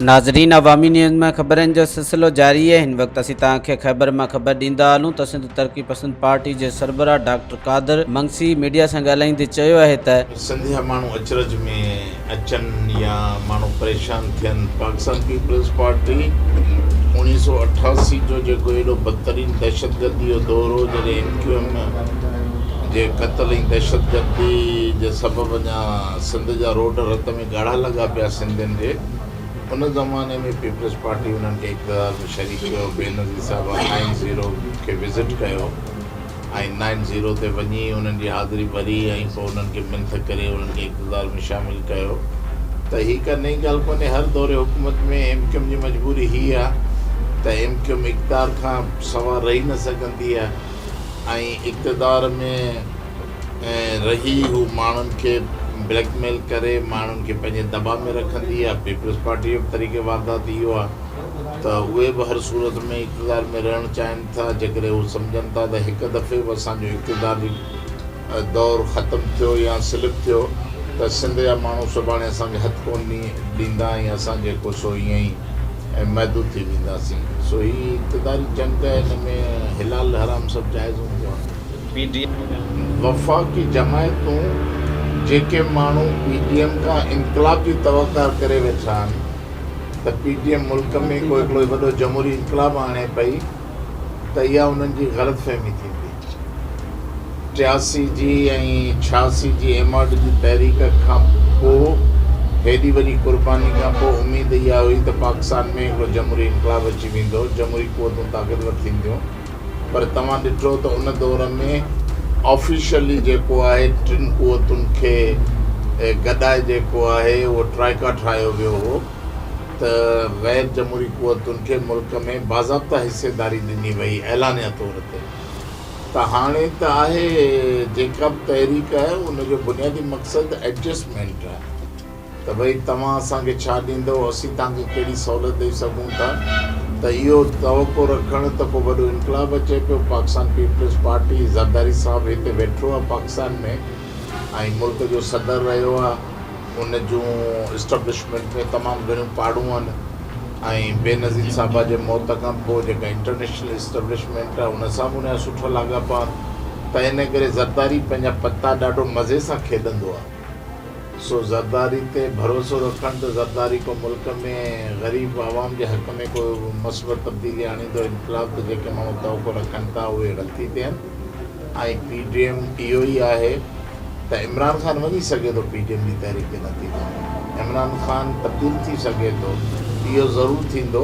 ناظرين عوامي نيوز ۾ خبرن جو سلسلو جاري آهي هن وقت اسين توهان کي خيبر مان خبر ڏيندا هلون ته سنڌ ترقي پسند پارٽي جي سربراهه ڊاڪٽر قادر منگسي ميڊيا سان ڳالهائيندي چيو آهي ته سنڌيا ماڻهو اچرج ۾ اچن يا ماڻهو پريشان ٿين پاڪستان پيپلز پارٽي اوڻيهه سؤ اٺاسي جو جيڪو ايڏو بدترين دهشتگردي جو دور هو جڏهن ايم ڪيو ايم جي قتل ۽ دهشتگردي جي سبب اڃا سنڌ جا روڊ رت ۾ ڳاڙها لڳا پيا سنڌين جي ان زماني ۾ پيپلز پارٽي انهن کي اقتدار ۾ شريڪ ڪيو بينظير صاحب آئين زيرو کي وزٽ ڪيو ۽ نائن زيرو تي وڃي انهن جي حاضري ڀري ۽ پوء انهن کي منٿ ڪري انهن کي اقتدار ۾ شامل ڪيو ته هي ڪا نئين ڳالهه ڪونهي هر دور حڪومت ۾ ايم ڪيوم جي مجبوري هي آهي ته ايم ڪيوم اقتدار کان سوا رهي نه سگهندي آهي ۽ اقتدار ۾ رهي هو ماڻهن کي بليڪ ميل ڪري ماڻهن کي پنهنجي دٻا ۾ رکندي آهي پيپلز پارٽي جو به طريقي واردات اهو آهي ته اهي به هر صورت ۾ اقتدار ۾ رهڻ چاهين ٿا جيڪڏهن هو سمجهن ٿا ته هڪ دفعي به اسان جو اقتداري دور ختم ٿيو يا سلپ ٿيو ته سنڌ جا ماڻهو سڀاڻي اسان کي هٿ ڪونه ڏيندا ۽ اسان جيڪو سو ائين ئي محدود ٿي وينداسين سو هي اقتداري جنگ ته هن ۾ حلال حرام سڀ جائز هوندو آهي. وفاقي جماعتون جيڪي ماڻهو پي ڊي ايم کان انقلاب جي توقع ڪري ويٺا آهن. ته پي ٽي ايم ملڪ ۾ ڪو هڪڙو وڏو جمهوري انقلاب آڻي پئي ته اها انهن جي غلط فهمي ٿيندي. ٽياسي جي ۽ ڇهاسي جي ايم آر ڊي جي تحريڪ کان پوء هيڏي وڏي قرباني کان پوء اميد اها هئي ته پاڪستان ۾ هڪڙو جمهوري انقلاب اچي ويندو، جمهوري قوتون طاقتور ٿينديون. پر توهان ڏٺو ته ان دور ۾ آفيشلي جيڪو آهي ٽن قوتن کي گڏائي جيڪو آهي اهو ٽرائيڪا ٺاهيو ويو هو ته غير جمهوري قوتن کي ملڪ ۾ باضابطا حصيداري ڏني وئي اعلانيه طور تي ته هاڻي ته آهي جيڪا به تحريڪ آهي ان جو بنيادي مقصد ايڊجسٽمينٽ آهي. ته ڀئي توهان اسان کي ڇا ڏيندؤ، اسين توهان کي ڪهڙي سهولت ڏئي سگهون ٿا ته اهو توقع رکڻ ته ڪو وڏو انقلاب اچي پيو، پاڪستان پيپلز پارٽي، زرداري صاحب هتي ويٺو آهي پاڪستان ۾ ۽ ملڪ جو صدر رهيو آهي، ان جون اسٽبلشمينٽ ۾ تمام گهڻيون پاڙون آهن ۽ بينظير صاحبه جي موت کان پوء جيڪا انٽرنيشنل اسٽبلشمينٽ آهي ان سان به ان جا سٺا لاڳاپا آهن ته ان ڪري زرداري پنهنجا پتا ڏاڍو مزي سان کيڏندو آهي. سو زرداري تي ڀروسو رکڻ ته زرداري ڪو ملڪ ۾ غريب عوام جي حق ۾ ڪو مثبت تبديلي آڻيندو انقلاب ته جيڪي ماڻهو توقع رکن ٿا اهي رتي تي آهن ۽ پي ڊي ايم اهو ئي آهي ته عمران خان وڃي سگهي ٿو پي ڊي ايم جي تحريڪ جي نتيجي ۾ عمران خان تبديل ٿي سگهي ٿو اهو ضرور ٿيندو.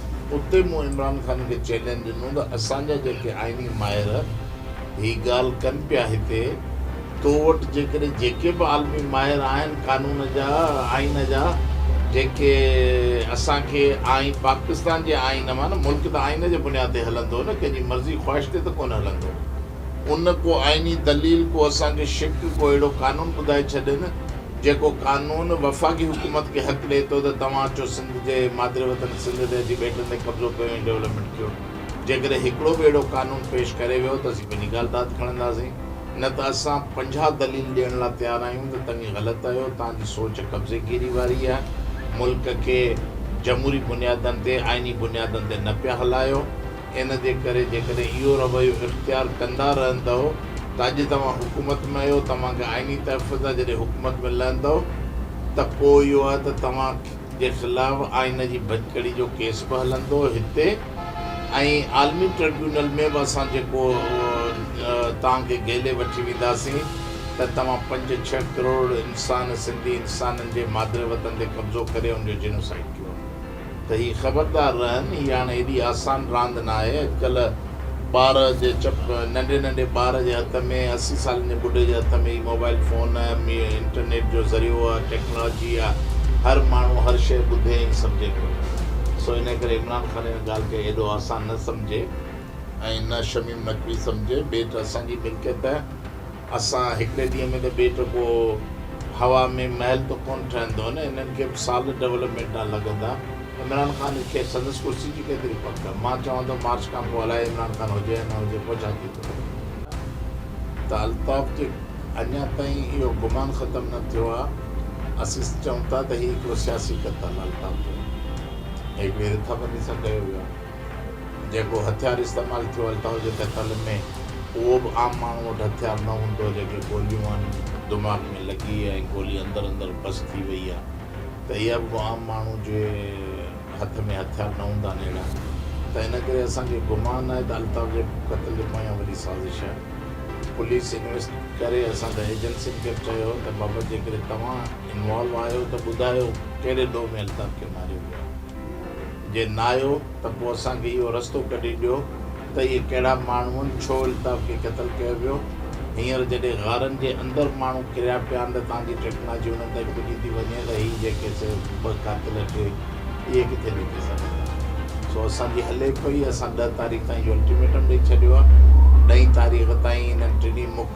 اتي مون عمران خان کي چئلينج ڏنو ته اسان جا جيڪي آئيني ماهر هي ڳالهه ڪن پيا هتي تو وٽ جيڪڏهن جيڪي به عالمي ماهر آهن قانون جا آئين جا جيڪي اسان کي آئين پاڪستان جي آئين مان نه ملڪ ته آئين جي بنياد تي هلندو نه ڪنهن جي مرضي خواهش تي ته ڪونه هلندو. ان ڪو آئيني دليل ڪو اسان کي شق ڪو اهڙو قانون ٻڌائي ڇڏين جيڪو قانون وفاقي حڪومت کي حق ڏئي ٿو ته توهان اچو سنڌ جي مادر وطن سنڌ تي اچي ٻيٽن تي قبضو ڪيو ۽ ڊولپمينٽ ڪيو جيڪڏهن هڪڙو به اهڙو قانون پيش ڪري ويو ته اسين پنهنجي ڳالهه ته هٿ کڻنداسين نه ته اسان پنجاهه دليل ڏيڻ لا تيار آهيون ته تنهي غلط آهيو تهان جي سوچ قبضي گيري واري آهي ملڪ کي جمهوري بنيادن تي آئيني بنيادن تي نه پيا هلايو. ان جي ڪري جيڪڏهن اهو رويو اختيار ڪندا رهندؤ ته اڄ توهان حڪومت ۾ آهيو، توهان کي آئيني تحفظ آهي، جڏهن حڪومت ۾ لهندؤ ته پوء اهو آهي ته توهان جي خلاف آئين جي ڀڃڪڙي جو ڪيس به هلندو هتي ۽ عالمي ٽربيونل ۾ به اسان جيڪو توهان کي گهيلي وٺي وينداسين ته توهان پنج ڇهه ڪروڙ انسان سنڌي انسانن جي مادري وطن تي قبضو ڪري ان جو جينوسائيڊ ڪيو. ته هي خبردار رهن هي هاڻي ايڏي آسان راند ناهي اڄڪلهه ٻار جي چپ ننڍي ننڍي ٻار جي هٿ ۾ اسي سالن جي ٻڍي جي هٿ ۾ هي موبائل فون انٽرنيٽ جو ذريعو آهي ٽيڪنالاجي آهي هر ماڻهو هر شيء ٻڌي ۽ سمجهي پيو سو انهي ڪري عمران خان ان ڳالهه کي ايڏو آسان نه سمجهي ۽ نه شميم نقوي سمجهي ٻيٽ اسان جي ملڪيت اسان هڪڙي ڏينهن ۾ ته ٻيٽ پوء هوا ۾ محل ته ڪونه ٺهندو نه انهن کي به سال ڊولپمينٽ ڏانهن لڳندا عمران خان کي سندس ڪرسي جي ڪيتري پڪ آهي مان چوان ٿو مارچ کان پوء الائي عمران خان هجي يا نه هجي پوء ڇا ٿيندو ته الطاف جي اڃا تائين اهو گمان ختم نه ٿيو آهي اسين چئون ٿا ته هي هڪڙو سياسي قتل الطاف جو هڪڙي رٿابندي سان ڪيو ويو آهي. جيڪو هٿيار استعمال ٿيو هل ٿا هجن ته ڪل ۾ اهو به عام ماڻهو وٽ هٿيار نه هوندو جيڪي گوليون آهن دماغ ۾ لڳي ۽ گولي اندر اندر بس ٿي وئي آهي ته اها به ڪو عام ماڻهو جي هٿ ۾ هٿيار نه هوندا آهن اهڙا ته ان ڪري اسان کي گمان آهي ته الطاف جي قتل جي پويان وڏي سازش آهي پوليس انويسٽ ڪري اسان ته ايجنسين کي به چيو ته بابا جيڪڏهن توهان انوالو آهيو ته ٻڌايو ڪهڙي ڏوهه ۾ الطاف کي ماريو ويو آهي. جي ناهيو ته پوء اسان کي اهو رستو ڪڍي ڏيو ته اهي ڪهڙا ماڻهو هن ڇو الطاف کي قتل ڪيو ويو هينئر جڏهن غارن جي اندر ماڻهو ڪريا پيا آهن ته توهان جي ٽيڪناجي انهن تائين پڄي ٿي وڃي ته هي جيڪي سي ٻه قاتل ٽي اهي ڪٿي لڪي سگهن ٿا سو اسان جي هلي پئي اسان ڏهه تاريخ تائين جو الٽيميٽم ڏئي ڇڏيو آهي ڏهين تاريخ تائين انهن ٽنهي مک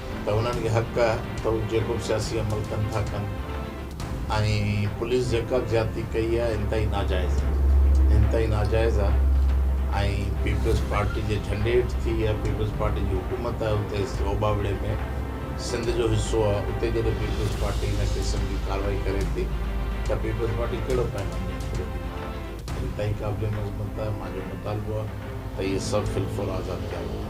ته انهن کي حق آهي ته هو جيڪو به سياسي عمل ڪن ٿا ڪن ۽ پوليس جيڪا به زيادتي ڪئي آهي انتهائي ناجائز آهي انتهائي ناجائز آهي ۽ پيپلز پارٽي جي جهنڊي هيٺ ٿي يا پيپلز پارٽي جي حڪومت آهي اتي اوڀا وڙهي ۾ سنڌ جو حصو آهي اتي جڏهن پيپلز پارٽي ان قسم جي ڪارروائي ڪري ٿي ته پيپلز پارٽي ڪهڙو پيغام ڏيڻ گهري ٿي ماڻهن کي انتهائي قابل مذمت آهي مانجو مطالبو آهي ته اهي سڀ في الفور آزاد ڪيا وڃن.